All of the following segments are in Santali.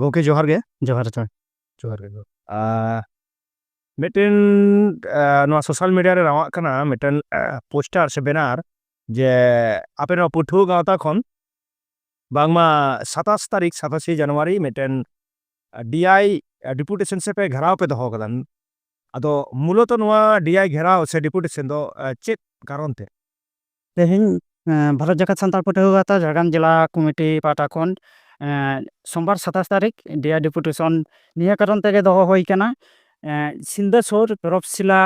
ᱜᱚᱢᱠᱮ ᱡᱚᱦᱟᱨ ᱜᱮ ᱡᱚᱦᱟᱨ ᱡᱚᱦᱟᱨ ᱡᱚᱦᱟᱨ ᱜᱮ ᱢᱤᱫᱴᱮᱱ ᱱᱚᱣᱟ ᱥᱳᱥᱟᱞ ᱢᱤᱰᱤᱭᱟ ᱨᱮ ᱨᱟᱣᱟᱜ ᱠᱟᱱᱟ ᱢᱤᱫᱴᱮᱱ ᱯᱳᱥᱴᱟᱨ ᱥᱮ ᱵᱮᱱᱟᱨ ᱡᱮ ᱟᱯᱮ ᱱᱚᱣᱟ ᱯᱟᱹᱴᱷᱩᱣᱟᱹ ᱜᱟᱶᱛᱟ ᱠᱷᱚᱱ ᱵᱟᱝᱢᱟ ᱥᱟᱛᱟᱥ ᱛᱟᱹᱨᱤᱠᱷ ᱥᱟᱛᱟᱥᱮ ᱡᱟᱱᱩᱣᱟᱨᱤ ᱢᱤᱫᱴᱮᱱ ᱰᱤᱟᱭ ᱰᱮᱯᱩᱴᱮᱥᱚᱱ ᱥᱮ ᱯᱮ ᱜᱷᱮᱨᱟᱣ ᱯᱮ ᱫᱚᱦᱚ ᱠᱟᱫᱟ ᱟᱫᱚ ᱢᱩᱞᱚᱛᱚ ᱱᱚᱣᱟ ᱰᱤᱟᱭ ᱜᱷᱮᱨᱟᱣ ᱥᱮ ᱰᱮᱯᱩᱴᱮᱥᱚᱱ ᱫᱚ ᱪᱮᱫ ᱠᱟᱨᱚᱱ ᱛᱮ ᱛᱮᱦᱮᱧ ᱵᱷᱟᱨᱚᱛ ᱡᱟᱠᱟᱛ ᱥᱟᱱᱛᱟᱲ ᱯᱟᱹᱴᱷᱩᱣᱟᱹ ᱜᱟᱶᱛᱟ ᱡᱷᱟᱲᱜᱨᱟᱢ ᱡᱮᱞᱟ ᱠᱚᱢᱤᱴᱤ ᱯᱟᱦᱴᱟ ᱠᱷᱚᱱ ᱥᱳᱢᱵᱟᱨ ᱥᱟᱛᱟᱥ ᱛᱟᱹᱨᱤᱠᱷ ᱰᱤᱭᱟᱨ ᱰᱮᱯᱩᱴᱮᱥᱚᱱ ᱱᱤᱭᱟᱹ ᱠᱟᱨᱚᱱ ᱛᱮᱜᱮ ᱫᱚᱦᱚ ᱦᱩᱭ ᱠᱟᱱᱟ ᱥᱤᱞᱫᱟᱹ ᱥᱩᱨ ᱛᱚᱨᱚᱯᱥᱤᱞᱟ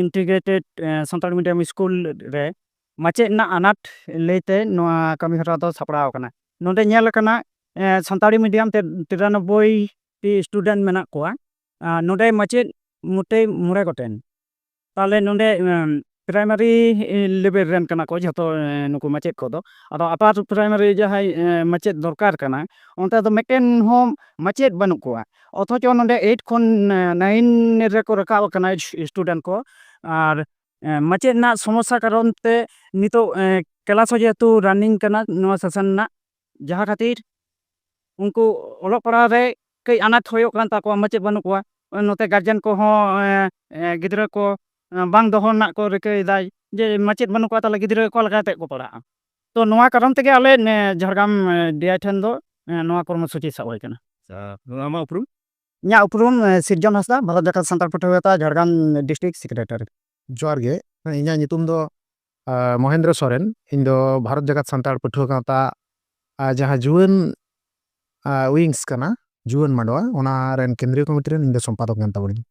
ᱤᱱᱴᱤᱜᱨᱮᱴᱮᱰ ᱥᱟᱱᱛᱟᱲᱤ ᱢᱤᱰᱤᱭᱟᱢ ᱥᱠᱩᱞ ᱨᱮ ᱢᱟᱪᱮᱫ ᱨᱮᱱᱟᱜ ᱟᱱᱟᱴ ᱞᱟᱹᱭᱛᱮ ᱱᱚᱣᱟ ᱠᱟᱹᱢᱤ ᱦᱚᱨᱟ ᱫᱚ ᱥᱟᱯᱲᱟᱣ ᱠᱟᱱᱟ ᱱᱚᱰᱮ ᱧᱮᱞ ᱠᱟᱱᱟ ᱥᱟᱱᱛᱟᱲᱤ ᱢᱤᱰᱤᱭᱟᱢ ᱛᱮ ᱛᱤᱨᱟᱱᱚᱵᱵᱳᱭ ᱴᱤ ᱥᱴᱩᱰᱮᱱᱴ ᱢᱮᱱᱟᱜ ᱠᱚᱣᱟ ᱱᱚᱰᱮ ᱢᱟᱪᱮᱫ ᱢᱚᱴᱮ ᱢᱚᱬᱮ ᱜᱚᱴᱮᱱ ᱛᱟᱦᱚᱞᱮ ᱱᱚᱰᱮ ᱯᱨᱟᱭᱢᱟᱨᱤ ᱞᱮᱵᱮᱞ ᱨᱮᱱ ᱠᱟᱱᱟ ᱠᱚ ᱡᱷᱚᱛᱚ ᱱᱩᱠᱩ ᱢᱟᱪᱮᱫ ᱠᱚᱫᱚ ᱟᱫᱚ ᱟᱯᱟᱨ ᱯᱨᱟᱭᱢᱟᱨᱤ ᱡᱟᱦᱟᱸᱭ ᱢᱟᱪᱮᱫ ᱫᱚᱨᱠᱟᱨ ᱠᱟᱱᱟ ᱚᱱᱛᱮ ᱫᱚ ᱢᱤᱫᱴᱮᱱ ᱦᱚᱸ ᱢᱟᱪᱮᱫ ᱵᱟᱹᱱᱩᱜ ᱠᱚᱣᱟ ᱚᱛᱷᱚᱪᱚ ᱱᱚᱰᱮ ᱮᱭᱤᱴ ᱠᱷᱚᱱ ᱱᱟᱭᱤᱱ ᱨᱮᱠᱚ ᱨᱟᱠᱟᱵ ᱟᱠᱟᱱᱟ ᱥᱴᱩᱰᱮᱱᱴ ᱠᱚ ᱟᱨ ᱢᱟᱪᱮᱫ ᱨᱮᱱᱟᱜ ᱥᱚᱢᱚᱥᱥᱟ ᱠᱟᱨᱚᱱ ᱛᱮ ᱱᱤᱛᱚᱜ ᱠᱞᱟᱥ ᱦᱚᱸ ᱡᱮᱦᱮᱛᱩ ᱨᱟᱱᱤᱝ ᱠᱟᱱᱟ ᱱᱚᱣᱟ ᱥᱮᱥᱚᱱ ᱨᱮᱱᱟᱜ ᱡᱟᱦᱟᱸ ᱠᱷᱟᱹᱛᱤᱨ ᱩᱱᱠᱩ ᱚᱞᱚᱜ ᱯᱟᱲᱦᱟᱣ ᱨᱮ ᱠᱟᱹᱡ ᱟᱱᱟᱴ ᱦᱩᱭᱩᱜ ᱠᱟᱱ ᱛᱟᱠᱚᱣᱟ ᱢᱟᱪᱮᱫ ᱵᱟᱹᱱᱩᱜ ᱠᱚᱣᱟ ᱱᱚᱛᱮ ᱜᱟᱨᱡᱮᱱ ᱠᱚᱦᱚᱸ ᱜᱤᱫᱽᱨᱟᱹ ᱠᱚ ᱵᱟᱝ ᱫᱚᱦᱚ ᱨᱮᱱᱟᱜ ᱠᱚ ᱨᱤᱠᱟᱹᱭᱮᱫᱟ ᱡᱮ ᱢᱟᱪᱮᱫ ᱵᱟᱹᱱᱩᱜ ᱠᱚᱣᱟ ᱛᱟᱦᱚᱞᱮ ᱜᱤᱫᱽᱨᱟᱹ ᱚᱠᱟ ᱞᱮᱠᱟ ᱠᱟᱛᱮᱫ ᱠᱚ ᱯᱟᱲᱦᱟᱜᱼᱟ ᱛᱚ ᱱᱚᱣᱟ ᱠᱟᱨᱚᱱ ᱛᱮᱜᱮ ᱟᱞᱮ ᱡᱷᱟᱲᱜᱨᱟᱢ ᱰᱤ ᱟᱭ ᱴᱷᱮᱱ ᱫᱚ ᱱᱚᱣᱟ ᱠᱚᱨᱢᱚ ᱥᱩᱪᱤ ᱥᱟᱵ ᱦᱩᱭ ᱠᱟᱱᱟ ᱟᱪᱪᱷᱟ ᱟᱢᱟᱜ ᱩᱯᱨᱩᱢ ᱤᱧᱟᱹᱜ ᱩᱯᱨᱩᱢ ᱥᱤᱨᱡᱚᱱ ᱦᱟᱸᱥᱫᱟ ᱵᱷᱟᱨᱚᱛ ᱡᱟᱠᱟᱛ ᱥᱟᱱᱛᱟᱲ ᱯᱟᱹᱴᱷᱩᱣᱟᱹ ᱜᱟᱶᱛᱟ ᱡᱷᱟᱲᱜᱨᱟᱢ ᱰᱤᱥᱴᱨᱤᱠᱴ ᱥᱮᱠᱨᱮᱴᱟᱨᱤ ᱡᱚᱦᱟᱨ ᱜᱮ ᱤᱧᱟᱹᱜ ᱧᱩᱛᱩᱢ ᱫᱚ ᱢᱚᱦᱮᱱᱫᱨᱚ ᱥᱚᱨᱮᱱ ᱤᱧ ᱫᱚ ᱵᱷᱟᱨᱚᱛ ᱡᱟᱠᱟᱛ ᱥᱟᱱᱛᱟᱲ ᱯᱟᱹᱴᱷᱩᱣᱟᱹ ᱜᱟᱶᱛᱟ ᱡᱟᱦᱟᱸ ᱡᱩᱣᱟᱹᱱ ᱩᱭᱤᱝᱥ ᱠᱟᱱᱟ ᱡᱩᱣᱟᱹᱱ ᱢᱟᱰᱣᱟ ᱚᱱᱟ ᱨᱮᱱ ᱠᱮᱱᱫᱨᱤᱭᱚ ᱠᱚᱢᱤᱴᱤ ᱨᱮᱱ ᱤᱧ ᱫᱚ ᱥᱚᱢᱯᱟᱫᱚᱠ ᱠᱟᱱ ᱛᱟᱵᱚᱱᱤᱧ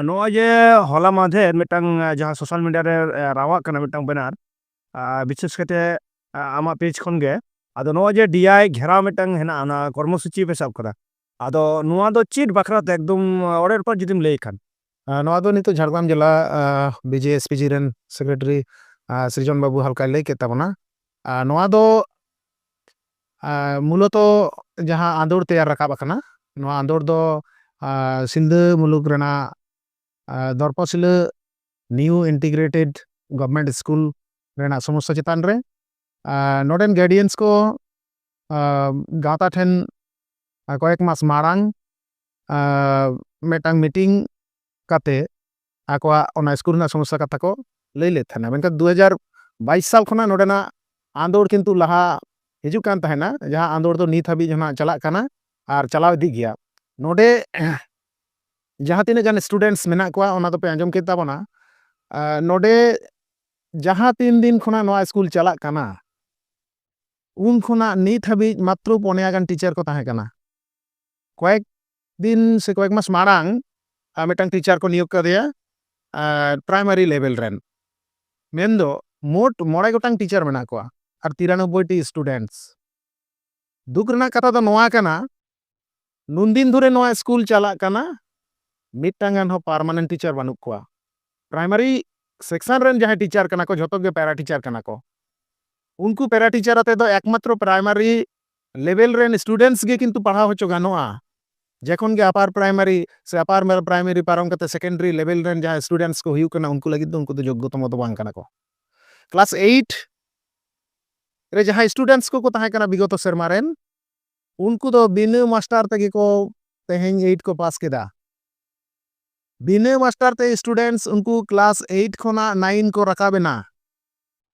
ᱱᱚᱜᱼᱚᱭ ᱡᱮ ᱦᱚᱞᱟ ᱢᱟᱫᱷᱮᱨ ᱢᱤᱫᱴᱟᱝ ᱡᱟᱦᱟᱸ ᱥᱳᱥᱟᱞ ᱢᱤᱰᱤᱭᱟ ᱨᱮ ᱨᱟᱣᱟᱜ ᱠᱟᱱᱟ ᱢᱤᱫᱴᱟᱝ ᱵᱮᱱᱟᱨ ᱵᱤᱥᱮᱥ ᱠᱟᱛᱮ ᱟᱢᱟᱜ ᱯᱮᱡᱽ ᱠᱷᱚᱱ ᱜᱮ ᱟᱫᱚ ᱱᱚᱜᱼᱚᱭ ᱡᱮ ᱰᱤᱟᱭ ᱜᱷᱮᱨᱟᱣ ᱢᱤᱫᱴᱟᱝ ᱦᱮᱱᱟᱜᱼᱟ ᱚᱱᱟ ᱠᱚᱨᱢᱚᱥᱩᱪᱤ ᱯᱮ ᱥᱟᱵ ᱠᱟᱫᱟ ᱟᱫᱚ ᱱᱚᱣᱟ ᱫᱚ ᱪᱮᱫ ᱵᱟᱠᱷᱨᱟᱛᱮ ᱮᱠᱫᱚᱢ ᱚᱲᱮ ᱨᱚᱯᱟᱨ ᱡᱩᱫᱤᱢ ᱞᱟᱹᱭ ᱠᱷᱟᱱ ᱱᱚᱣᱟ ᱫᱚ ᱱᱤᱛᱚᱜ ᱡᱷᱟᱲᱜᱨᱟᱢ ᱡᱮᱞᱟ ᱵᱤᱡᱮ ᱮᱥ ᱯᱤ ᱡᱤ ᱨᱮᱱ ᱥᱮᱠᱨᱮᱴᱟᱨᱤ ᱥᱨᱤᱡᱚᱱ ᱵᱟᱹᱵᱩ ᱦᱟᱞᱠᱟᱭ ᱞᱟᱹᱭ ᱠᱮᱫ ᱛᱟᱵᱚᱱᱟ ᱱᱚᱣᱟ ᱫᱚ ᱢᱩᱞᱚᱛᱚ ᱡᱟᱦᱟᱸ ᱟᱸᱫᱳᱲ ᱛᱮᱭᱟᱨ ᱨᱟᱠᱟᱵ ᱟᱠᱟᱱᱟ ᱱᱚᱣᱟ ᱟᱸᱫᱳᱲ ᱫᱚ ᱥᱤᱞᱫᱟᱹ ᱢᱩᱞᱩᱠ ᱨᱮᱱᱟᱜ ᱫᱚᱨᱯᱟᱥᱤᱞᱟᱹ ᱱᱤᱭᱩ ᱤᱱᱴᱤᱜᱨᱮᱴᱮᱰ ᱜᱚᱵᱷᱢᱮᱱᱴ ᱥᱠᱩᱞ ᱨᱮᱱᱟᱜ ᱥᱚᱢᱚᱥᱥᱟ ᱪᱮᱛᱟᱱ ᱨᱮ ᱱᱚᱰᱮᱱ ᱜᱟᱨᱰᱤᱭᱟᱱᱥ ᱠᱚ ᱜᱟᱶᱛᱟ ᱴᱷᱮᱱ ᱠᱚᱭᱮᱠ ᱢᱟᱥ ᱢᱟᱲᱟᱝ ᱢᱤᱫᱴᱟᱝ ᱢᱤᱴᱤᱝ ᱠᱟᱛᱮ ᱟᱠᱚᱣᱟᱜ ᱚᱱᱟ ᱥᱠᱩᱞ ᱨᱮᱱᱟᱜ ᱥᱚᱢᱚᱥᱥᱟ ᱠᱟᱛᱷᱟ ᱠᱚ ᱞᱟᱹᱭ ᱞᱮᱫ ᱛᱟᱦᱮᱱᱟ ᱢᱮᱱᱠᱷᱟᱱ ᱫᱩ ᱦᱟᱡᱟᱨ ᱵᱟᱭᱤᱥ ᱥᱟᱞ ᱠᱷᱚᱱᱟᱜ ᱱᱚᱰᱮᱱᱟᱜ ᱟᱸᱫᱳᱲ ᱠᱤᱱᱛᱩ ᱞᱟᱦᱟ ᱦᱤᱡᱩᱜ ᱠᱟᱱ ᱛᱟᱦᱮᱱᱟ ᱡᱟᱦᱟᱸ ᱟᱸᱫᱳᱲ ᱫᱚ ᱱᱤᱛ ᱦᱟᱹᱵᱤᱡ ᱦᱚᱸ ᱱᱟᱜ ᱪᱟᱞᱟᱜ ᱠᱟᱱᱟ ᱟᱨ ᱪᱟᱞᱟᱣ ᱤᱫᱤᱜ ᱜᱮᱭᱟ ᱱᱚᱰᱮ ᱡᱟᱦᱟᱸ ᱛᱤᱱᱟᱹᱜ ᱜᱟᱱ ᱥᱴᱩᱰᱮᱱᱴᱥ ᱢᱮᱱᱟᱜ ᱠᱚᱣᱟ ᱚᱱᱟ ᱫᱚᱯᱮ ᱟᱸᱡᱚᱢ ᱠᱮᱫ ᱛᱟᱵᱚᱱᱟ ᱱᱚᱰᱮ ᱡᱟᱦᱟᱸ ᱛᱤᱱ ᱫᱤᱱ ᱠᱷᱚᱱᱟᱜ ᱱᱚᱣᱟ ᱥᱠᱩᱞ ᱪᱟᱞᱟᱜ ᱠᱟᱱᱟ ᱩᱱ ᱠᱷᱚᱱᱟᱜ ᱱᱤᱛ ᱦᱟᱹᱵᱤᱡ ᱢᱟᱛᱨᱚ ᱯᱚᱱᱮᱭᱟ ᱜᱟᱱ ᱴᱤᱪᱟᱨ ᱠᱚ ᱛᱟᱦᱮᱸ ᱠᱟᱱᱟ᱾ ᱠᱚᱭᱮᱠ ᱫᱤᱱ ᱥᱮ ᱠᱚᱭᱮᱠ ᱢᱟᱥ ᱢᱟᱲᱟᱝ ᱢᱤᱫᱴᱟᱝ ᱴᱤᱪᱟᱨ ᱠᱚ ᱱᱤᱭᱳᱜᱽ ᱠᱟᱫᱮᱭᱟ ᱯᱨᱟᱭᱢᱟᱨᱤ ᱞᱮᱵᱮᱞ ᱨᱮᱱ᱾ ᱢᱮᱱ ᱫᱚ ᱢᱳᱴ ᱢᱚᱬᱮ ᱜᱚᱴᱟᱝ ᱴᱤᱪᱟᱨ ᱢᱮᱱᱟᱜ ᱠᱚᱣᱟ ᱟᱨ ᱛᱤᱨᱟᱱᱚᱵᱵᱚᱭ ᱴᱤ ᱥᱴᱩᱰᱮᱱᱴᱥ᱾ ᱫᱩᱠ ᱨᱮᱱᱟᱜ ᱠᱟᱛᱷᱟ ᱫᱚ ᱱᱚᱣᱟ ᱠᱟᱱᱟ ᱱᱩᱱ ᱫᱤᱱ ᱫᱷᱚᱨᱮ ᱱᱚᱣᱟ ᱥᱠᱩᱞ ᱪᱟᱞᱟᱜ ᱠᱟᱱᱟ ᱢᱤᱫᱴᱟᱝ ᱜᱟᱱ ᱦᱚᱸ ᱯᱟᱨᱢᱟᱱᱮᱱᱴ ᱴᱤᱪᱟᱨ ᱵᱟᱹᱱᱩᱜ ᱠᱚᱣᱟ ᱯᱨᱟᱭᱢᱟᱨᱤ ᱥᱮᱠᱥᱚᱱ ᱨᱮᱱ ᱡᱟᱦᱟᱸᱭ ᱴᱤᱪᱟᱨ ᱠᱟᱱᱟ ᱠᱚ ᱡᱷᱚᱛᱚ ᱜᱮ ᱯᱮᱨᱟ ᱴᱤᱪᱟᱨ ᱠᱟᱱᱟ ᱠᱚ ᱩᱱᱠᱩ ᱯᱮᱨᱟ ᱴᱤᱪᱟᱨ ᱟᱛᱮ ᱫᱚ ᱮᱠᱢᱟᱛᱨᱚ ᱯᱨᱟᱭᱢᱟᱨᱤ ᱞᱮᱵᱮᱞ ᱨᱮᱱ ᱥᱴᱩᱰᱮᱱᱴᱥ ᱜᱮ ᱠᱤᱱᱛᱩ ᱯᱟᱲᱦᱟᱣ ᱦᱚᱪᱚ ᱜᱟᱱᱚᱜᱼᱟ ᱡᱮᱠᱷᱚᱱ ᱜᱮ ᱟᱯᱟᱨ ᱯᱨᱟᱭᱢᱟᱨᱤ ᱥᱮ ᱟᱯᱟᱨ ᱯᱨᱟᱭᱢᱟᱨᱤ ᱯᱟᱨᱚᱢ ᱠᱟᱛᱮ ᱥᱮᱠᱮᱱᱰᱟᱨᱤ ᱞᱮᱵᱮᱞ ᱨᱮᱱ ᱡᱟᱦᱟᱸᱭ ᱥᱴᱩᱰᱮᱱᱴᱥ ᱠᱚ ᱦᱩᱭᱩᱜ ᱠᱟᱱᱟ ᱩᱱᱠᱩ ᱞᱟᱹᱜᱤᱫ ᱫᱚ ᱩᱱᱠᱩ ᱫᱚ ᱡᱳᱜᱽᱜᱚᱛᱚᱢ ᱫᱚ ᱵᱟᱝ ᱠᱟᱱᱟ ᱠᱚ ᱠᱞᱟᱥ ᱮᱭᱤᱴ ᱨᱮ ᱡᱟᱦᱟᱸᱭ ᱥᱴᱩᱰᱮᱱᱴᱥ ᱠᱚᱠᱚ ᱛᱟᱦᱮᱸ ᱠᱟᱱᱟ ᱵᱤᱜᱚᱛᱚ ᱥᱮᱨᱢᱟ ᱨᱮᱱ ᱩᱱᱠᱩ ᱫᱚ ᱵᱤᱱᱟᱹ ᱢᱟᱥᱴᱟᱨ ᱛᱮᱜᱮ ᱠᱚ ᱛᱮᱦᱮᱧ ᱮᱭᱤᱴ ᱠᱚ ᱯᱟᱥ ᱠᱮᱫᱟ᱾ ᱵᱤᱱᱟᱹ ᱢᱟᱥᱴᱟᱨ ᱛᱮ ᱥᱴᱩᱰᱮᱱᱴᱥ ᱩᱱᱠᱩ ᱠᱞᱟᱥ ᱮᱭᱤᱴ ᱠᱷᱚᱱᱟᱜ ᱱᱟᱭᱤᱱ ᱠᱚ ᱨᱟᱠᱟᱵ ᱮᱱᱟ᱾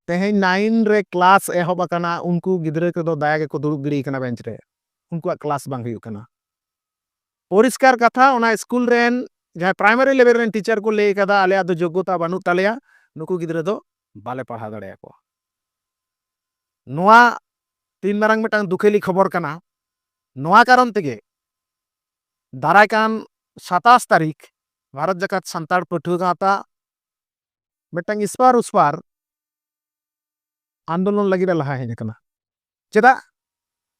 ᱛᱮᱦᱮᱧ ᱱᱟᱭᱤᱱ ᱨᱮ ᱠᱞᱟᱥ ᱮᱦᱚᱵ ᱟᱠᱟᱱᱟ ᱩᱱᱠᱩ ᱜᱤᱫᱽᱨᱟᱹ ᱠᱚᱫᱚ ᱫᱟᱭᱟ ᱜᱮᱠᱚ ᱫᱩᱲᱩᱵ ᱜᱤᱲᱤ ᱟᱠᱟᱱᱟ ᱵᱮᱸᱪ ᱨᱮ᱾ ᱩᱱᱠᱩᱣᱟᱜ ᱠᱞᱟᱥ ᱵᱟᱝ ᱦᱩᱭᱩᱜ ᱠᱟᱱᱟ᱾ ᱯᱚᱨᱤᱥᱠᱟᱨ ᱠᱟᱛᱷᱟ ᱚᱱᱟ ᱥᱠᱩᱞ ᱨᱮᱱ ᱡᱟᱦᱟᱸᱭ ᱯᱨᱟᱭᱢᱟᱨᱤ ᱞᱮᱵᱮᱞ ᱨᱮᱱ ᱴᱤᱪᱟᱨ ᱠᱚ ᱞᱟᱹᱭ ᱟᱠᱟᱫᱟ ᱟᱞᱮᱭᱟᱜ ᱫᱚ ᱡᱳᱜᱽᱜᱚᱛᱟ ᱵᱟᱹᱱᱩᱜ ᱛᱟᱞᱮᱭᱟ ᱱᱩᱠᱩ ᱜᱤᱫᱽᱨᱟᱹ ᱫᱚ ᱵᱟᱞᱮ ᱯᱟᱲᱦᱟᱣ ᱫᱟᱲᱮᱭᱟᱠᱚᱣᱟ᱾ ᱱᱚᱣᱟ ᱛᱤᱱ ᱢᱟᱨᱟᱝ ᱢᱤᱫᱴᱟᱝ ᱫᱩᱠᱷᱮᱞᱤ ᱠᱷᱚᱵᱚᱨ ᱠᱟᱱᱟ ᱱᱚᱣᱟ ᱠᱟᱨᱚᱱ ᱛᱮᱜᱮ ᱫᱟᱨᱟᱭ ᱠᱟᱱ ᱥᱟᱛᱟᱥ ᱛᱟᱹᱨᱤᱠᱷ ᱵᱷᱟᱨᱚᱛ ᱡᱟᱠᱟᱛ ᱥᱟᱱᱛᱟᱲ ᱯᱟᱹᱴᱷᱩᱣᱟᱹ ᱜᱟᱶᱛᱟ ᱢᱤᱫᱴᱟᱝ ᱤᱥᱯᱟᱨ ᱩᱥᱯᱟᱨ ᱟᱱᱫᱳᱞᱚᱱ ᱞᱟᱹᱜᱤᱫ ᱮ ᱞᱟᱦᱟ ᱦᱮᱡ ᱟᱠᱟᱱᱟ ᱪᱮᱫᱟᱜ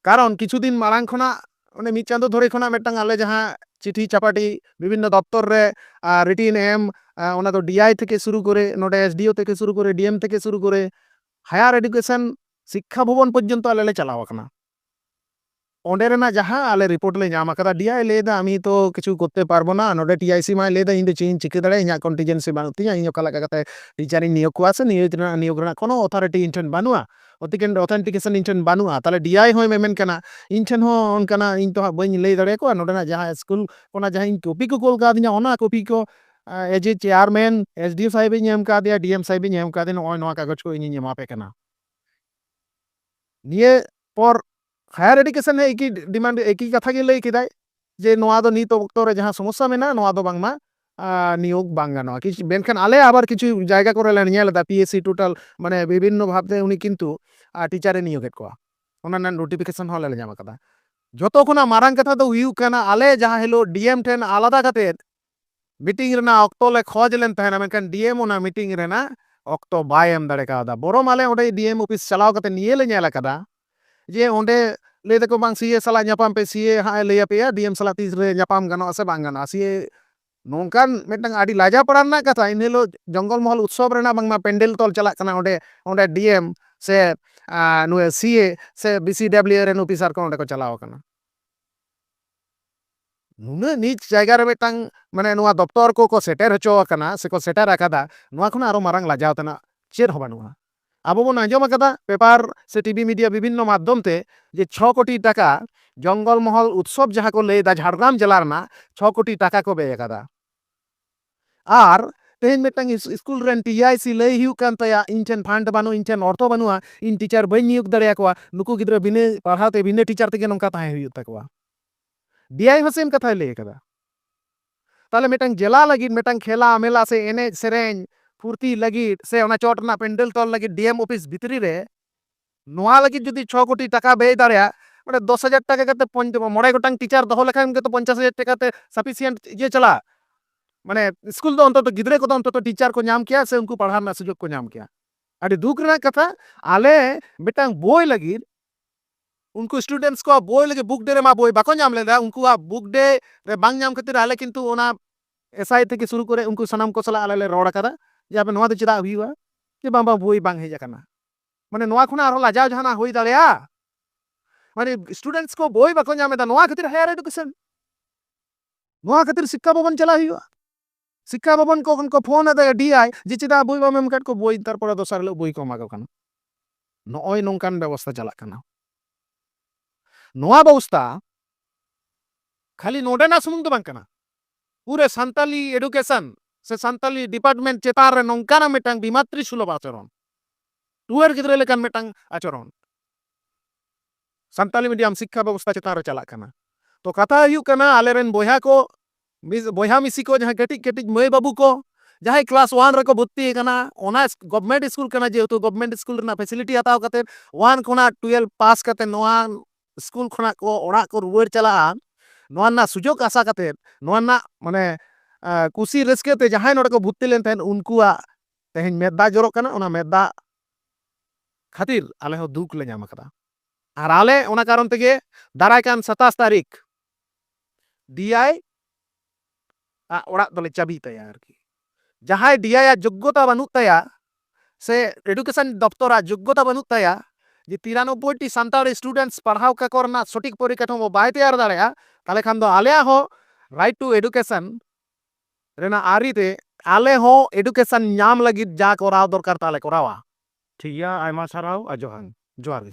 ᱠᱟᱨᱚᱱ ᱠᱤᱪᱷᱩ ᱫᱤᱱ ᱢᱟᱲᱟᱝ ᱠᱷᱚᱱᱟᱜ ᱚᱱᱮ ᱢᱤᱫ ᱪᱟᱸᱫᱚ ᱫᱷᱚᱨᱮ ᱠᱷᱚᱱᱟᱜ ᱢᱤᱫᱴᱟᱝ ᱟᱞᱮ ᱡᱟᱦᱟᱸ ᱪᱤᱴᱷᱤ ᱪᱟᱯᱟᱴᱤ ᱵᱤᱵᱷᱤᱱᱱᱚ ᱫᱚᱯᱛᱚᱨ ᱨᱮ ᱨᱤᱴᱤᱱ ᱮᱢ ᱚᱱᱟ ᱫᱚ ᱰᱤᱟᱭ ᱛᱷᱮᱠᱮ ᱥᱩᱨᱩ ᱠᱚᱨᱮ ᱱᱚᱰᱮ ᱮᱥᱰᱤᱳ ᱛᱷᱮᱠᱮ ᱥᱩᱨᱩ ᱠᱚᱨᱮ ᱰᱤᱮᱢ ᱛᱷᱮᱠᱮ ᱥᱩᱨᱩ ᱠᱚᱨᱮ ᱦᱟᱭᱟᱨ ᱮᱰᱩᱠᱮᱥᱚᱱ ᱥᱤᱠᱠᱷᱟ ᱵᱷᱚᱵᱚᱱ ᱯᱚᱨᱡᱚᱱᱛᱚ ᱟᱞᱮ ᱞᱮ ᱪᱟᱞᱟᱣ ᱟᱠᱟᱱᱟ ᱚᱸᱰᱮ ᱨᱮᱱᱟᱜ ᱡᱟᱦᱟᱸ ᱟᱞᱮ ᱨᱤᱯᱳᱨᱴ ᱞᱮ ᱧᱟᱢ ᱟᱠᱟᱫᱟ ᱰᱤᱟᱭ ᱞᱟᱹᱭᱫᱟ ᱟᱢᱤ ᱛᱚ ᱠᱤᱪᱷᱩ ᱠᱚᱨᱛᱮ ᱯᱟᱨᱵᱚ ᱱᱟ ᱱᱚᱰᱮ ᱴᱤᱟᱭᱥᱤ ᱢᱟᱭ ᱞᱟᱹᱭᱫᱟ ᱤᱧ ᱫᱚ ᱪᱮᱫ ᱤᱧ ᱪᱤᱠᱟᱹ ᱫᱟᱲᱮᱭᱟᱜᱼᱟ ᱤᱧᱟᱹᱜ ᱠᱚᱱᱴᱤᱡᱮᱱᱥᱤ ᱵᱟᱹᱱᱩᱜ ᱛᱤᱧᱟ ᱤᱧ ᱚᱠᱟ ᱞᱮᱠᱟ ᱠᱟᱛᱮ ᱴᱤᱪᱟᱨᱤᱧ ᱱᱤᱭᱳᱜᱽ ᱠᱚᱣᱟ ᱥᱮ ᱱᱤᱭᱳᱜᱽ ᱨᱮᱱᱟᱜ ᱱᱤᱭᱳᱜᱽ ᱨᱮᱱᱟᱜ ᱠᱳᱱᱳ ᱚᱛᱷᱚᱨᱤᱴᱤ ᱤᱧ ᱴᱷᱮᱱ ᱵᱟᱹᱱᱩᱜᱼᱟ ᱚᱛᱤᱠᱮᱱ ᱨᱮ ᱚᱛᱷᱮᱱᱴᱤᱠᱮᱥᱚᱱ ᱤᱧ ᱴᱷᱮᱱ ᱵᱟᱹᱱᱩᱜᱼᱟ ᱛᱟᱦᱚᱞᱮ ᱰᱤᱟᱭ ᱦᱚᱸᱭ ᱢᱮᱢᱮᱱ ᱠᱟᱱᱟ ᱤᱧ ᱴᱷᱮᱱ ᱦᱚᱸ ᱚᱱᱠᱟᱱᱟᱜ ᱤᱧ ᱛᱚ ᱦᱟᱸᱜ ᱵᱟᱹᱧ ᱞᱟᱹᱭ ᱫᱟᱲᱮ ᱟᱠᱚᱣᱟ ᱱᱚᱰᱮᱱᱟᱜ ᱡᱟᱦᱟᱸ ᱥᱠᱩᱞ ᱚᱱᱟ ᱡᱟᱦᱟᱸ ᱤᱧ ᱠᱚᱯᱤ ᱠᱚ ᱠᱳᱞ ᱠᱟᱣᱫᱤᱧᱟ ᱚᱱᱟ ᱠᱚᱯᱤ ᱠᱚ as a chairman S D O ᱥᱟᱦᱮᱵ ᱤᱧ ᱮᱢ ᱠᱟᱣᱫᱮᱭᱟ ᱰᱤ ᱮᱢ ᱥᱟᱦᱮᱵ ᱤᱧ ᱮᱢ ᱠᱟᱣᱫᱮᱭᱟ ᱱᱚᱜᱼᱚᱭ ᱱᱚᱣᱟ ᱠᱟᱜᱚᱡᱽ ᱠᱚ ᱤᱧᱤᱧ ᱮᱢᱟ ᱯᱮ ᱠᱟᱱᱟ ᱱᱤᱭᱟᱹ ᱯᱚᱨ ᱦᱟᱭᱟᱨ ᱮᱰᱩᱠᱮᱥᱚᱱ ᱦᱚᱸ ᱮᱠᱤ ᱰᱤᱢᱟᱱᱰ ᱮᱠᱤ ᱠᱟᱛᱷᱟ ᱜᱮ ᱞᱟᱹᱭ ᱠᱮᱫᱟᱭ ᱡᱮ ᱱᱚᱣᱟ ᱫᱚ ᱱᱤᱛ ᱚᱠᱛᱚ ᱨᱮ ᱡᱟᱦᱟᱸ ᱥᱚᱢᱚᱥᱥᱟ ᱢᱮᱱᱟᱜᱼᱟ ᱱᱚᱣᱟ ᱫᱚ ᱵᱟᱝᱢᱟ ᱱᱤᱭᱳᱜᱽ ᱵᱟᱝ ᱜᱟᱱᱚᱜᱼᱟ ᱠᱤᱪᱷᱩ ᱢᱮᱱᱠᱷᱟᱱ ᱟᱞᱮ ᱟᱵᱟᱨ ᱠᱤᱪᱷᱩ ᱡᱟᱭᱜᱟ ᱠᱚᱨᱮ ᱞᱮ ᱧᱮᱞ ᱮᱫᱟ ᱯᱤ ᱮᱥ ᱥᱤ ᱴᱳᱴᱟᱞ ᱢᱟᱱᱮ ᱵᱤᱵᱷᱤᱱᱱᱚ ᱵᱷᱟᱵᱽ ᱛᱮ ᱩᱱᱤ ᱠᱤᱱᱛᱩ ᱴᱤᱪᱟᱨ ᱮ ᱱᱤᱭᱳᱜᱽ ᱮᱫ ᱠᱚᱣᱟ ᱚᱱᱟ ᱨᱮᱱᱟᱜ ᱱᱳᱴᱤᱯᱷᱤᱠᱮᱥᱚᱱ ᱦᱚᱸ ᱟᱞᱮ ᱞᱮ ᱧᱟᱢ ᱟᱠᱟᱫᱟ ᱡᱚᱛᱚ ᱠᱷᱚᱱᱟᱜ ᱢᱟᱨᱟᱝ ᱠᱟᱛᱷᱟ ᱫᱚ ᱦᱩᱭᱩᱜ ᱠᱟᱱᱟ ᱟᱞᱮ ᱡᱟᱦᱟᱸ ᱦᱤᱞᱳᱜ ᱰᱤ ᱮᱢ ᱴᱷᱮᱱ ᱟᱞᱟᱫᱟ ᱠᱟᱛᱮ ᱢᱤᱴᱤᱝ ᱨᱮᱱᱟᱜ ᱚᱠᱛᱚ ᱞᱮ ᱠᱷᱚᱡᱽ ᱞᱮᱱ ᱛᱟᱦᱮᱱᱟ ᱢᱮᱱᱠᱷᱟᱱ ᱰᱤᱮᱢ ᱚᱱᱟ ᱢᱤᱴᱤᱝ ᱨᱮᱱᱟᱜ ᱚᱠᱛᱚ ᱵᱟᱭ ᱮᱢ ᱫᱟᱲᱮ ᱠᱟᱣᱫᱟ ᱵᱚᱨᱚᱢ ᱟᱞᱮ ᱚᱸᱰᱮ ᱰᱤᱮᱢ ᱚᱯᱷᱤᱥ ᱪᱟᱞᱟᱣ ᱠᱟᱛᱮ ᱱᱤᱭᱟᱹ ᱞᱮ ᱧᱮᱞ ᱟᱠᱟᱫᱟ ᱡᱮ ᱚᱸᱰᱮ ᱞᱟᱹᱭ ᱫᱟᱠᱚ ᱵᱟᱝ ᱥᱤᱮ ᱥᱟᱞᱟᱜ ᱧᱟᱯᱟᱢ ᱯᱮ ᱥᱤᱮ ᱦᱟᱸᱜ ᱮ ᱞᱟᱹᱭ ᱟᱯᱮᱭᱟ ᱰᱤᱮᱢ ᱥᱟᱞᱟᱜ ᱛᱤᱥ ᱨᱮ ᱧᱟᱯᱟᱢ ᱜᱟᱱᱚᱜᱼᱟ ᱥᱮ ᱵᱟᱝ ᱜᱟᱱᱚᱜᱼᱟ ᱥᱤᱮ ᱱᱚᱝᱠᱟᱱ ᱢᱤᱫᱴᱟᱝ ᱟᱹᱰᱤ ᱞᱟᱡᱟ ᱯᱟᱲᱟ ᱨᱮᱱᱟᱜ ᱠᱟᱛᱷᱟ ᱤᱱᱟᱹ ᱦᱤᱞᱳᱜ ᱡᱚᱝᱜᱚᱞ ᱢᱚᱦᱚᱞ ᱩᱛᱥᱚᱵ ᱨᱮᱱᱟᱜ ᱵᱟᱝᱢᱟ ᱯᱮᱱᱰᱮᱞ ᱛᱚᱞ ᱪᱟᱞᱟᱜ ᱠᱟᱱᱟ ᱚᱸᱰᱮ ᱚᱸᱰᱮ ᱰᱤᱮᱢ ᱥᱮ ᱱᱩᱭ ᱥᱤᱮ ᱥᱮ ᱵᱤᱥᱤᱰᱟᱵᱞᱤᱭᱩ ᱨᱮᱱ ᱚᱯᱷᱤᱥᱟᱨ ᱠᱚ ᱚᱸᱰᱮ ᱠᱚ ᱪᱟᱞᱟᱣ ᱟᱠᱟᱱᱟ ᱱᱩᱱᱟᱹᱜ ᱱᱤᱪ ᱡᱟᱭᱜᱟ ᱨᱮ ᱢᱤᱫᱴᱟᱝ ᱢᱟᱱᱮ ᱱᱚᱣᱟ ᱫᱚᱯᱛᱚᱨ ᱠᱚ ᱠᱚ ᱥᱮᱴᱮᱨ ᱦᱚᱪᱚ ᱟᱠᱟᱱᱟ ᱥᱮ ᱠᱚ ᱥᱮᱴᱮᱨ ᱟᱠᱟᱫᱟ ᱱᱚᱣᱟ ᱠᱷᱚᱱᱟᱜ ᱟᱨᱚ ᱢᱟᱨᱟᱝ ᱞᱟᱡᱟᱣ ᱛᱮᱱᱟᱜ ᱪᱮᱫ ᱦᱚᱸ ᱵᱟᱹᱱᱩᱜᱼᱟ᱾ ᱟᱵᱚ ᱵᱚᱱ ᱟᱸᱡᱚᱢ ᱟᱠᱟᱫᱟ ᱯᱮᱯᱟᱨ ᱥᱮ ᱴᱤᱵᱷᱤ ᱢᱤᱰᱤᱭᱟ ᱵᱤᱵᱷᱤᱱᱱᱚ ᱢᱟᱫᱷᱭᱚᱢ ᱛᱮ ᱡᱮ ᱪᱷᱚ ᱠᱳᱴᱤ ᱴᱟᱠᱟ ᱡᱚᱝᱜᱚᱞ ᱢᱚᱦᱚᱞ ᱩᱛᱥᱚᱵᱽ ᱡᱟᱦᱟᱸ ᱠᱚ ᱞᱟᱹᱭ ᱮᱫᱟ ᱡᱷᱟᱲᱜᱨᱟᱢ ᱡᱮᱞᱟ ᱨᱮᱱᱟᱜ ᱪᱷᱚ ᱠᱳᱴᱤ ᱴᱟᱠᱟ ᱠᱚ ᱵᱮᱭ ᱟᱠᱟᱫᱟ᱾ ᱟᱨ ᱛᱮᱦᱮᱧ ᱢᱤᱫᱴᱟᱝ ᱤᱥᱠᱩᱞ ᱨᱮᱱ ᱴᱤ ᱟᱭ ᱥᱤ ᱞᱟᱹᱭ ᱦᱩᱭᱩᱜ ᱠᱟᱱ ᱛᱟᱭᱟ ᱤᱧ ᱴᱷᱮᱱ ᱯᱷᱟᱱᱰ ᱵᱟᱹᱱᱩᱜᱼᱟ ᱤᱧ ᱴᱷᱮᱱ ᱚᱨᱛᱷᱚ ᱵᱟᱹᱱᱩᱜᱼᱟ ᱤᱧ ᱴᱤᱪᱟᱨ ᱵᱟᱹᱧ ᱱᱤᱭᱳᱜᱽ ᱫᱟᱲᱮ ᱟᱠᱚᱣᱟ ᱱᱩᱠᱩ ᱜᱤᱫᱽᱨᱟᱹ ᱵᱤᱱᱟᱹ ᱯᱟᱲᱦᱟᱣ ᱛᱮ ᱵᱤᱱᱟᱹ ᱴᱤᱪᱟᱨ ᱛᱮᱜᱮ ᱱᱚᱝᱠᱟ ᱛᱟᱦᱮᱸ ᱦᱩᱭᱩᱜ ᱛᱟᱠᱚᱣᱟ ᱰᱤ ᱟᱭ ᱦᱚᱸ ᱥᱮᱢ ᱠᱟᱛᱷᱟᱭ ᱞᱟᱹᱭ ᱟᱠᱟᱫᱟ ᱛᱟᱦᱚᱞᱮ ᱢᱤᱫᱴᱟᱝ ᱡᱮᱞᱟ ᱞᱟᱹᱜᱤᱫ ᱢᱤᱫᱴᱟᱝ ᱠᱷᱮᱞᱟ ᱢᱮᱞᱟ ᱥᱮ ᱮᱱᱮᱡ ᱥᱮᱨᱮᱧ ᱯᱷᱩᱨᱛᱤ ᱞᱟᱹᱜᱤᱫ ᱥᱮ ᱚᱱᱟ ᱪᱚᱴ ᱨᱮᱱᱟᱜ ᱯᱮᱱᱰᱮᱞ ᱛᱚᱞ ᱞᱟᱹᱜᱤᱫ ᱰᱤ ᱮᱢ ᱚᱯᱷᱤᱥ ᱵᱷᱤᱛᱨᱤ ᱨᱮ ᱱᱚᱣᱟ ᱞᱟᱹᱜᱤᱫ ᱡᱩᱫᱤ ᱪᱷᱚ ᱠᱳᱴᱤ ᱴᱟᱠᱟ ᱵᱮᱭ ᱫᱟᱲᱮᱭᱟᱜ ᱢᱟᱱᱮ ᱫᱚᱥ ᱦᱟᱡᱟᱨ ᱴᱟᱠᱟ ᱠᱟᱛᱮ ᱢᱚᱬᱮ ᱜᱚᱴᱟᱝ ᱴᱤᱪᱟᱨ ᱫᱚᱦᱚ ᱞᱮᱠᱷᱟᱱ ᱜᱮᱛᱚ ᱯᱚᱧᱪᱟᱥ ᱦᱟᱡᱟᱨ ᱴᱟᱠᱟ ᱛᱮ ᱥᱟᱯᱷᱤᱥᱤᱭᱮᱱᱴ ᱤᱭᱟᱹ ᱪᱟᱞᱟᱜᱼᱟ ᱢᱟᱱᱮ ᱥᱠᱩᱞ ᱫᱚ ᱚᱱᱛᱚᱛᱚ ᱜᱤᱫᱽᱨᱟᱹ ᱠᱚᱫᱚ ᱚᱱᱛᱚᱛᱚ ᱴᱤᱪᱟᱨ ᱠᱚ ᱧᱟᱢ ᱠᱮᱭᱟ ᱥᱮ ᱩᱱᱠᱩ ᱯᱟᱲᱦᱟᱣ ᱨᱮᱱᱟᱜ ᱥᱩᱡᱳᱜᱽ ᱠᱚ ᱧᱟᱢ ᱠᱮᱭᱟ ᱟᱹᱰᱤ ᱫᱩᱠ ᱨᱮᱱᱟᱜ ᱠᱟᱛᱷᱟ ᱟᱞᱮ ᱢᱤᱫᱴᱟᱝ ᱵᱳᱭ ᱞᱟᱹᱜᱤᱫ ᱩᱱᱠᱩ ᱥᱴᱩᱰᱮᱱᱴᱥ ᱠᱚᱣᱟᱜ ᱵᱳᱭ ᱞᱟᱹᱜᱤᱫ ᱵᱩᱠ ᱰᱮ ᱨᱮᱢᱟ ᱵᱳᱭ ᱵᱟᱠᱚ ᱧᱟᱢ ᱞᱮᱫᱟ ᱩᱱᱠᱩᱣᱟᱜ ᱵᱩᱠ ᱰᱮ ᱨᱮ ᱵᱟᱝ ᱧᱟᱢ ᱠᱷᱟᱹᱛᱤᱨ ᱟᱞᱮ ᱠᱤᱱᱛᱩ ᱚᱱᱟ ᱮᱥᱟᱭ ᱛᱷᱮᱠᱮ ᱥᱩᱨᱩ ᱠᱚᱨᱮ ᱩᱱᱠᱩ ᱥᱟᱱᱟᱢ ᱠᱚ ᱥᱟᱞᱟᱜ ᱟᱞᱮ ᱞᱮ ᱨᱚᱲ ᱟᱠᱟᱫᱟ ᱡᱮ ᱟᱯᱮ ᱱᱚᱣᱟ ᱫᱚ ᱪᱮᱫᱟᱜ ᱦᱩᱭᱩᱜᱼᱟ ᱡᱮ ᱵᱟᱝ ᱵᱟᱝ ᱵᱳᱭ ᱵᱟᱝ ᱦᱮᱡ ᱟᱠᱟᱱᱟ ᱢᱟᱱᱮ ᱱᱚᱣᱟ ᱠᱷᱚᱱᱟᱜ ᱟᱨᱦᱚᱸ ᱞᱟᱡᱟᱣ ᱡᱟᱦᱟᱱᱟᱜ ᱦᱩᱭ ᱫᱟᱲᱮᱭᱟᱜᱼᱟ? ᱢᱟᱱᱮ ᱥᱴᱩᱰᱮᱱᱴᱥ ᱠᱚ ᱵᱳᱭ ᱵᱟᱠᱚ ᱧᱟᱢ ᱮᱫᱟ ᱱᱚᱣᱟ ᱠᱷᱟᱹᱛᱤᱨ ᱦᱟᱭᱟᱨ ᱮᱰᱩᱠᱮᱥᱚᱱ ᱱᱚᱣᱟ ᱠᱷᱟᱹᱛᱤᱨ ᱥᱤᱠᱠᱷᱟ ᱵᱷᱚᱵᱚᱱ ᱪᱟᱞᱟᱜ ᱦᱩᱭᱩᱜᱼᱟ ᱥᱤᱠᱠᱷᱟ ᱵᱷᱚᱵᱚᱱ ᱠᱚ ᱠᱷᱚᱱ ᱠᱚ ᱯᱷᱳᱱ ᱟᱫᱟ ᱰᱤᱟᱭ ᱡᱮ ᱪᱮᱫᱟᱜ ᱵᱳᱭ ᱵᱟᱢ ᱮᱢ ᱠᱟᱫ ᱠᱚ ᱵᱳᱭ ᱛᱟᱨᱯᱚᱨᱮ ᱫᱚᱥᱟᱨ ᱦᱤᱞᱳᱜ ᱵᱳᱭ ᱠᱚ ᱮᱢᱟ ᱠᱚ ᱠᱟᱱᱟ ᱱᱚᱜᱼᱚᱭ ᱱᱚᱝᱠᱟᱱ ᱵᱮᱵᱚᱥᱛᱟ ᱪᱟᱞᱟᱜ ᱠᱟᱱᱟ ᱱᱚᱣᱟ ᱵᱮᱵᱚᱥᱛᱟ ᱠᱷᱟᱹᱞᱤ ᱱᱚᱰᱮᱱᱟᱜ ᱥᱩᱢᱩᱝ ᱫᱚ ᱵᱟᱝ ᱠᱟᱱᱟ ᱯᱩᱨᱟᱹ ᱥᱟᱱᱛᱟᱞᱤ ᱮᱰᱩᱠᱮᱥᱚᱱ ᱥᱮ ᱥᱟᱱᱛᱟᱞᱤ ᱰᱤᱯᱟᱨᱴᱢᱮᱱᱴ ᱪᱮᱛᱟᱱ ᱨᱮ ᱱᱚᱝᱠᱟᱱᱟᱜ ᱢᱤᱫᱴᱟᱝ ᱵᱤᱢᱟᱛᱨᱤ ᱥᱩᱞᱚᱵᱷ ᱟᱪᱚᱨᱚᱱ ᱴᱩᱣᱟᱹᱨ ᱜᱤᱫᱽᱨᱟᱹ ᱞᱮᱠᱟᱱ ᱢᱤᱫᱴᱟᱝ ᱟᱪᱚᱨᱚᱱ ᱥᱟᱱᱛᱟᱞᱤ ᱢᱤᱰᱤᱭᱟᱢ ᱥᱤᱠᱠᱷᱟ ᱵᱮᱵᱚᱥᱛᱟ ᱪᱮᱛᱟᱱ ᱨᱮ ᱪᱟᱞᱟᱜ ᱠᱟᱱᱟ ᱛᱚ ᱠᱟᱛᱷᱟ ᱦᱩᱭᱩᱜ ᱠᱟᱱᱟ ᱟᱞᱮ ᱨᱮᱱ ᱵᱚᱭᱦᱟ ᱠᱚ ᱵᱚᱭᱦᱟ ᱢᱤᱥᱤ ᱠᱚ ᱡᱟᱦᱟᱸᱭ ᱠᱟᱹᱴᱤᱡ ᱠᱟᱹᱴᱤᱡ ᱢᱟᱹᱭ ᱵᱟᱹᱵᱩ ᱠᱚ ᱡᱟᱦᱟᱸᱭ ᱠᱞᱟᱥ ᱳᱣᱟᱱ ᱨᱮᱠᱚ ᱵᱷᱚᱨᱛᱤ ᱟᱠᱟᱱᱟ ᱚᱱᱟ ᱜᱚᱵᱷᱢᱮᱱᱴ ᱥᱠᱩᱞ ᱠᱟᱱᱟ ᱡᱮᱦᱮᱛᱩ ᱜᱚᱵᱷᱢᱮᱱᱴ ᱥᱠᱩᱞ ᱨᱮᱱᱟᱜ ᱯᱷᱮᱥᱤᱞᱤᱴᱤ ᱦᱟᱛᱟᱣ ᱠᱟᱛᱮ ᱳᱣᱟᱱ ᱠᱷᱚᱱᱟᱜ ᱴᱩᱭᱮᱞᱵᱷ ᱯᱟᱥ ᱠᱟᱛᱮ ᱱᱚᱣᱟ ᱥᱠᱩᱞ ᱠᱷᱚᱱᱟᱜ ᱠᱚ ᱚᱲᱟᱜ ᱠᱚ ᱨᱩᱣᱟᱹᱲ ᱪᱟᱞᱟᱜᱼᱟ ᱱᱚᱣᱟ ᱨᱮᱱᱟᱜ ᱥᱩᱡᱳᱜᱽ ᱟᱥᱟ ᱠᱟᱛᱮ ᱱᱚᱣᱟ ᱨᱮᱱᱟᱜ ᱢᱟᱱᱮ ᱠᱩᱥᱤ ᱨᱟᱹᱥᱠᱟᱹ ᱛᱮ ᱡᱟᱦᱟᱸᱭ ᱱᱚᱰᱮ ᱠᱚ ᱵᱷᱚᱨᱛᱤ ᱞᱮᱱ ᱛᱟᱦᱮᱸᱫ ᱩᱱᱠᱩᱣᱟᱜ ᱛᱮᱦᱮᱧ ᱢᱮᱫ ᱫᱟᱜ ᱡᱚᱨᱚᱜ ᱠᱟᱱᱟ ᱚᱱᱟ ᱢᱮᱫ ᱫᱟᱜ ᱠᱷᱟᱹᱛᱤᱨ ᱟᱞᱮ ᱦᱚᱸ ᱫᱩᱠ ᱞᱮ ᱧᱟᱢ ᱟᱠᱟᱫᱟ ᱟᱨ ᱟᱞᱮ ᱚᱱᱟ ᱠᱟᱨᱚᱱ ᱛᱮᱜᱮ ᱫᱟᱨᱟᱭ ᱠᱟᱱ ᱥᱟᱛᱟᱥ ᱛᱟᱹᱨᱤᱠᱷ ᱰᱤᱟᱭ ᱟᱜ ᱚᱲᱟᱜ ᱫᱚᱞᱮ ᱪᱟᱹᱵᱤ ᱛᱟᱭᱟ ᱟᱨᱠᱤ ᱡᱟᱦᱟᱸᱭ ᱰᱤᱟᱭ ᱟᱜ ᱡᱳᱜᱽᱜᱚᱛᱟ ᱵᱟᱹᱱᱩᱜ ᱛᱟᱭᱟ ᱥᱮ ᱮᱰᱩᱠᱮᱥᱚᱱ ᱫᱚᱯᱛᱚᱨ ᱟᱜ ᱡᱳᱜᱽᱜᱚᱛᱟ ᱵᱟᱹᱱᱩᱜ ᱛᱟᱭᱟ ᱡᱮ ᱛᱤᱨᱟᱱᱚᱵᱵᱚᱭ ᱴᱤ ᱥᱟᱱᱛᱟᱲ ᱥᱴᱩᱰᱮᱱᱴᱥ ᱯᱟᱲᱦᱟᱣ ᱠᱟᱠᱚ ᱨᱮᱱᱟᱜ ᱥᱚᱴᱷᱤᱠ ᱯᱚᱨᱤᱠᱟᱴᱷᱟᱢᱳ ᱵᱟᱭ ᱛᱮᱭᱟᱨ ᱫᱟᱲᱮᱭᱟᱜᱼᱟ ᱛᱟᱦᱚᱞᱮ ᱠᱷᱟᱱ ᱫᱚ ᱟᱞᱮᱭᱟᱜ ᱦᱚᱸ ᱨᱟᱭᱤᱴ ᱴᱩ ᱮᱰᱩᱠᱮᱥᱚᱱ ᱨᱮᱱᱟᱜ ᱟᱹᱨᱤ ᱛᱮ ᱟᱞᱮ ᱦᱚᱸ ᱮᱰᱩᱠᱮᱥᱚᱱ ᱧᱟᱢ ᱞᱟᱹᱜᱤᱫ ᱡᱟ ᱠᱚᱨᱟᱣ ᱫᱚᱨᱠᱟᱨ ᱛᱟᱞᱮ ᱠᱚᱨᱟᱣᱟ᱾ ᱴᱷᱤᱠ ᱜᱮᱭᱟ ᱟᱭᱢᱟ ᱥᱟᱨᱦᱟᱣ ᱟᱨ ᱡᱚᱦᱟᱨ᱾ ᱡᱚᱦᱟᱨ ᱜᱮ᱾